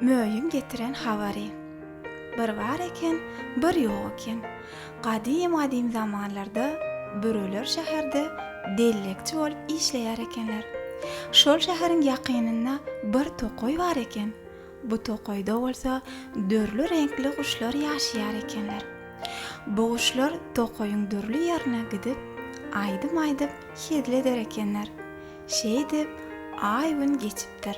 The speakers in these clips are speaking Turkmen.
Möýüň getiren habary. Bir bar eken, bir ýok eken. Gadym-gadym zamanlarda büreler şäherde dellekçi bolup işleýär ekenler. Şol şäheriň ýakynynda bir tokaý bar eken. Bu tokaýda bolsa dürli reňkli guşlar ýaşaýar ekenler. Bu guşlar tokaýyň dürli ýerine gidip, aýdym aýdyp hezil eder ekenler. Şeýdip, aý-gün geçipdir.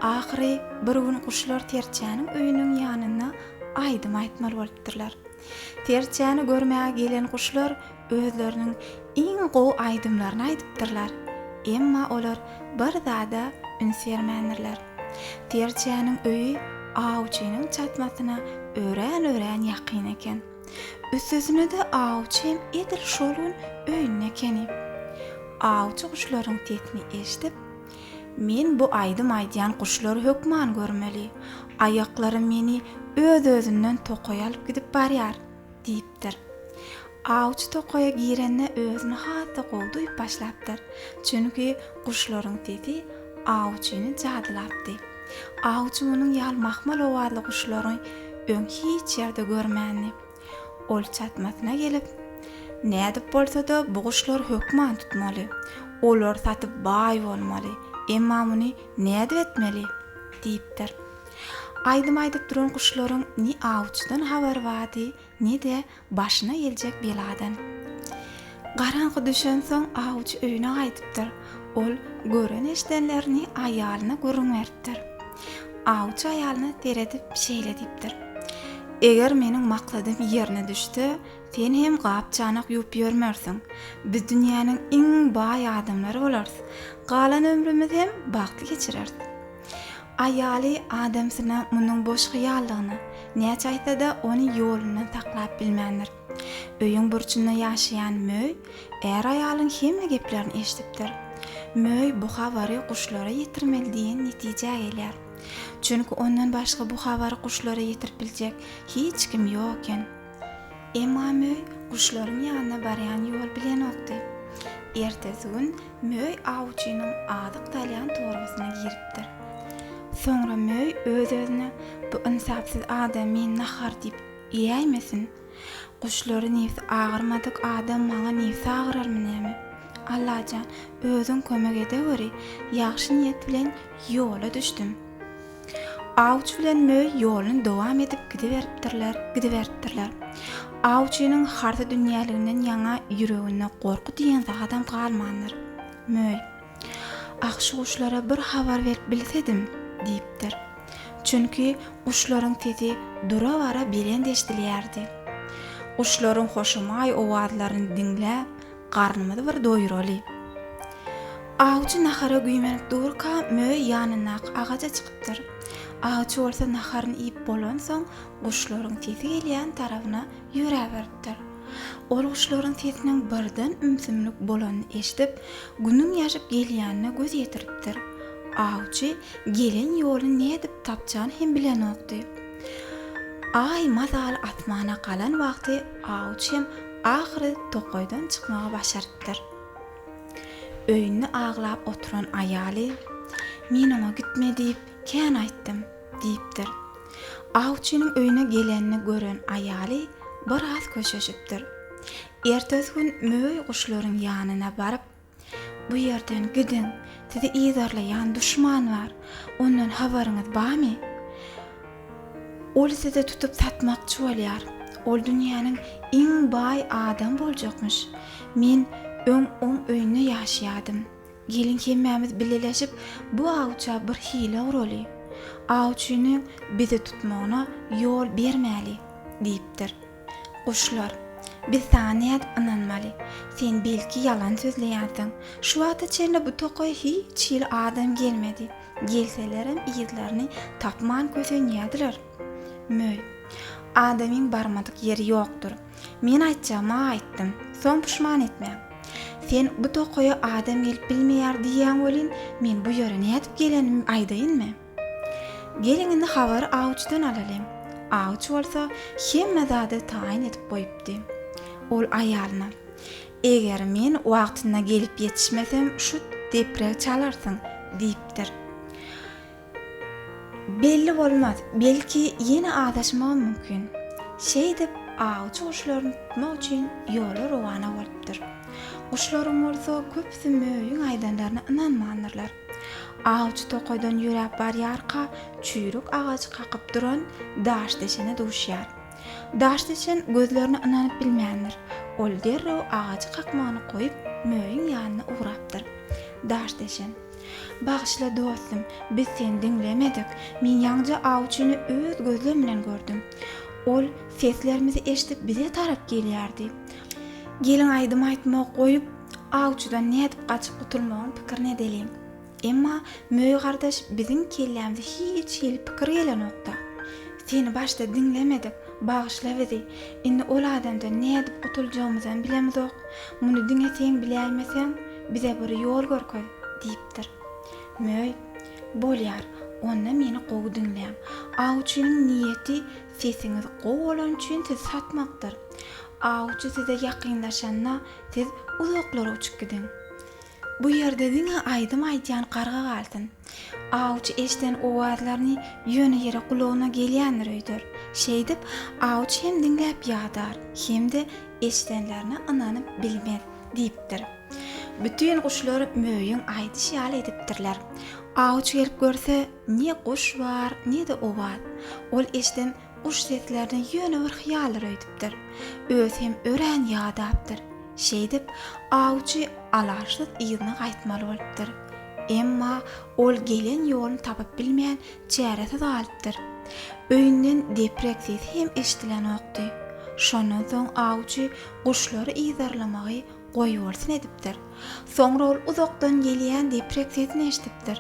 Ahyry bir gün guşlar Serçäniň öýüniň ýanynda aýdym aýtmaly bolupdyrlar. Serçäni görmäge gelen guşlar Özleriniň iň gowy aýdymlaryny aýdypdyrlar, emma olar bir zada üns bermändirler. Serçäniň öýi awçynyň çatmasyna örän-örän ýakyn eken. Üstesine-de awçy hem edil şol gün öýünde ekeni. Awçy guşlaryň sesini eşidip, Men bu aýdym aýdýan guşlary hökman görmeli. Aýaklarym meni öz-özünden tokaýa alyp gidip barýar. Diýipdir. Awçy tokaýa girende özüni has-da gowy duýup başlapdyr. Çünki guşlaryň sesi awçyny jadylapdy. Awçy munuň ýaly mahmal owazly guşlary öň hiç ýerde görmändi. Ol çatmasyna gelip, Nädip bolsa-da bu guşlary hökman tutmaly. Olary satyp baý bolmaly. Emma muny nädip etmeli? diýipdir. Aýdym aýdyp duran guşlaryň ne awçydan habary bardy, ne-de başyna geljek beladan. Garaňky düşensoň awçy öýüne gaýdypdyr. Ol gören-eşdenlerini aýalyna gürrüň beripdir. Awçy aýalyna seredip şeýle diýipdir, Eger meniň maksadym ýerine düşse, sen hem gap-çanak ýuwup ýörmersiň. Biz dünýäniň iň baý adamlary bolarys. Galan ömrümiz hem bagtly geçireris. Aýaly adamsyna munuň boş hyýaldygyny näçe aýtsa-da, ony ýolundan saklap bilmändir. Öýüň burçunda ýaşaýan Möý är-aýalyň hemme geplerini eşidipdir. Möý bu habary guşlara ýetirmeli diýen netijä gelýär. Çünki ondan başga bu habary guşlara ýetirip biljek hiç kim ýok eken. Emma möý guşlaryň ýanyna barýan ýol bilenokdy. Ertesi gün möý awçynyň azyk salýan torbasyna giripdir. Soňra möý öz-özüne, Bu ynsapsyz adam meni nahar diýip iýäýmesin. Guşlary nebsi agyrmadyk adam maňa nebsi agyrarmy näme? Allajan, özüň kömek edeweri, ýagşy niýet bilen ýola düşdüm. Awçy bilen Möý ýoluny dowam edip gidiberipdirler, gidiberipdirler. Awçynyň harta dünýäliginden ýaňa ýüreginde gorky diýen zadam galmandyr. Möý, Ah, şu guşlara bir habar berip bilsedim! diýipdir. Çünki guşlaryň sesi dura-bara belent eşidilýärdi. Guşlaryň hoşamaý owazlaryny diňläp, Garnymyzy bir doýuraly. Awçy nahara güýmenip durka, möý ýanyndaky agaja çykypdyr. Awçy bolsa naharyny iýip bolansoň, guşlaryň sesi gelýän tarabyna ýöräberipdir. Ol guşlaryň sesiniň birden ümsümlik bolanyny eşidip, günüň ýaşyp gelýänine göz ýetiripdir. Awçy gelen ýoly nädip tapjany hem bilenokdy. Aý mazaly asmana galan wagty awçy hem Ahyry tokaýdan çykmagy başarypdyr. Öýünde aglap oturan aýaly, Men oňa gitme diýip, kän aýtdym, diýipdir. Awçynyň öýüne gelenini gören aýaly biraz köşeşipdir. Ertesi gün möý guşlaryň ýanyna baryp, Bu ýerden gidiň, sizi yzarlaýan duşman bar, ondan habaryňyz barmy? Ol sizi tutup satmakçy bolýar, ol dünýäniň iň baý adam boljakmyş. Men öň oň öýünde ýaşaýardym. Geliň hemmämiz bileleşip bu awça bir hile guraly. Awçynyň bizi tutmagyna ýol bermäli, diýipdir. Guşlar, Biz saňa nädip ynanmaly? Sen belki ýalan sözleýänsiň. Şu wagta çenli bu tokaýa hiç hili adam gelmedi. Gelselerem yzlaryny tapman kösenýärdiler. Möý, Adamyň barmadyk ýeri ýokdur. Men aýtjagymy aýtdym. Soň puşman etmäň. Sen bu tokaýa adam gelip bilmeýär diýýäň welin, men bu ýere nädip gelenimi aýdaýynmy? Geliň indi habary awçydan alalyň. Awçy bolsa hemme zady taýyn edip goýupdy. Ol aýalyna, Eger men wagtynda gelip ýetişmesem şu depregi çalarsyň, diýipdir. Belli bolmaz, belki ýene azaşmagam mümkin. Şeýdip, awçy guşlaryny tutmak üçin ýola rowana bolupdyr. Guşlaryň bolsa köpüsi möýüň aýdanlaryna ynanmandyrlar. Awçy tokaýdan ýöräp barýarka, çüýrük agajy kakyp duran daşdeçene duşýar. Daşdeçen gözlerine ynanyp bilmändir. Ol derrew agajy kakmagyny goýup, möýüň ýanyna ugrapdyr. Daşdeçen. Bagyşla, dostum, biz seni diňlemedik. Men ýaňja awçyny öz gözlem bilen gördüm. Ol seslerimizi eşidip bize tarap gelýärdi. Gelin aýdym aýtmagy goýup, Awçydan nädip gaçyp gutulmagyň pikirini edeliň. Emma Möý gardaş biziň kellämize hiç hili pikir gelenok-da. Seni başda diňlemedik, bagyşla bizi. Indi ol adamdan nädip gutuljagymyzam bilemizok. Muny diňe sen biläýmeseň, bize bir ýol görkez, diýipdir. Möý, Bolýar, onda meni gowy diňläň. Awçynyň niýeti sesiňiz gowy bolany üçin sizi satmakdyr. Awçy size ýakynlaşanda, Siz uzaklara uçup gidiň. Bu ýerde diňe aýdym aýdýan garga galsyn. Awçy eşden owazlaryny ýöne ýere gulagyna gelýändir öýder. Şeýdip, awçy hem diňläp ýadar, hem-de eşdenlerine ynanyp bilmez, diýipdir. Bütin guşlar Möýüň aýdyşy ýaly edipdirler. Awçy gelip görse, ne guş bar, ne-de owaz. Ol eşden Guş seslerine ýöne bir hyýallar öýdüpdir. Özi hem örän ýadapdyr. Şeýdip, awçy alaçsyz yzyna gaýtmaly bolupdyr. Emma ol gelen ýoluny tapyp bilmän, çäresiz galypdyr. Öýünden deprek sesi hem eşidilenokdy. Şondan soň awçy guşlary yzarlamagy Goýbolsun edipdir. Soňra ol uzakdan gelýän deprek sesini eşidipdir.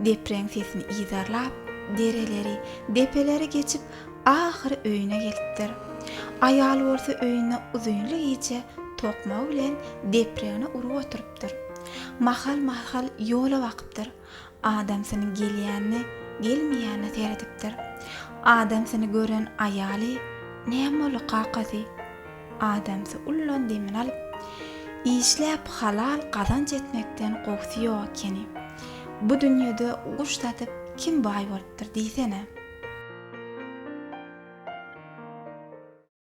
Depreň sesini yzarlap, dereleri, depeleri geçip, ahyry öýüne gelipdir. Aýaly bolsa öýünde uzynly gije tokmagy bilen depregine urup oturypdyr. Mahal-mahal ýola bakypdyr. Adamsyny gelýänine, gelmeýänine seredipdir. Adamsyny gören aýaly, Näme boldy, kakasy? Adamsy ullan demini alyp, Işläp halal gazanç etmekden gowusy ýok ekeni. Bu dünýede guş satyp kim baý bolupdyr diýsene?